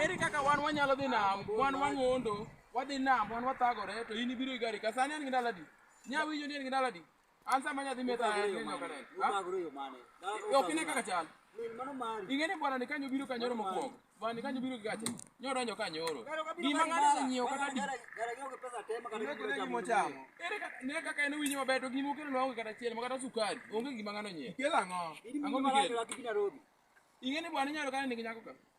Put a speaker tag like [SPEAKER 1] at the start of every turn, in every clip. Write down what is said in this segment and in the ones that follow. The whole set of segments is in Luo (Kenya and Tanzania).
[SPEAKER 1] Eri kaka wan wanyalo dhi nam, wan wang'ondo, wadhi nam, wan wathagore, to in ibiro igari ka. Sani an gi ndalo adi? Nya winjo ni an gi ndalo adi? an sama nyathi meta ok ine kaka chal ing'eni bwana ni kanyo biro kanyoro mokwongo bwana ni kanyo biro gi gache nyodonjo kanyoro gima ng'ato oseng'iewo kata di ne kaka en owinjo maber to gima okelo nwa onge kata chiel ma kata sukari onge gima ng'ano nyiewo kelo ang'o ang'o mikelo ing'eni bwana inyalo kane nigi nyako ka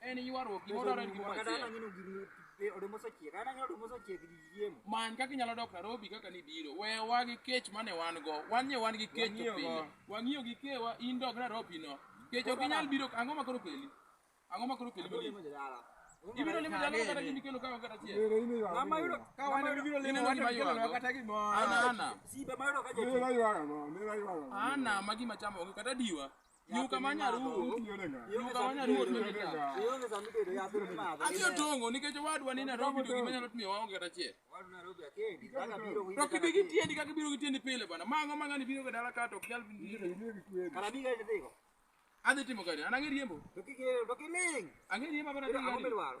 [SPEAKER 2] en ywaruok gima odwaro
[SPEAKER 1] en gimoro achiel
[SPEAKER 2] many kaka inyalo dok
[SPEAKER 1] narobi kaka nibiro wewa gi kech mane wan go wan nye wan gi kech to pinyo wang'iyo gi kewa in dog narobi no kech ok inyal biro ang'o ma koro keli ang'o ma koro keli mali ibiro limo jalo kata gimi kelo kawa
[SPEAKER 3] kata chiel
[SPEAKER 2] ana ana ana ma gima
[SPEAKER 1] chamo onge kata diwa Nyuka ma nyaruo. Nyuka ma nyaruo to ni ka. Ionge sama itedo
[SPEAKER 2] yath to imadho. Adhi otongo nikech
[SPEAKER 1] owadwa ni Nairobi to gima nyalo timo waonge kata achiel. Wadu Nairobi akendi.
[SPEAKER 2] Kaka biro winjo. To kibi gi tiendi kaka ibiro
[SPEAKER 1] gi tiendi pile bana. Mang'o mang'ani biro ga dala ka to ok nyal biro. Kara bi ga idhigo.
[SPEAKER 2] Adhi timo
[SPEAKER 1] kare. An ang'e riembo. To kike to kiling.
[SPEAKER 2] Ang'e riembo bana.
[SPEAKER 1] Ang'e Ang'o riembo. midwaro?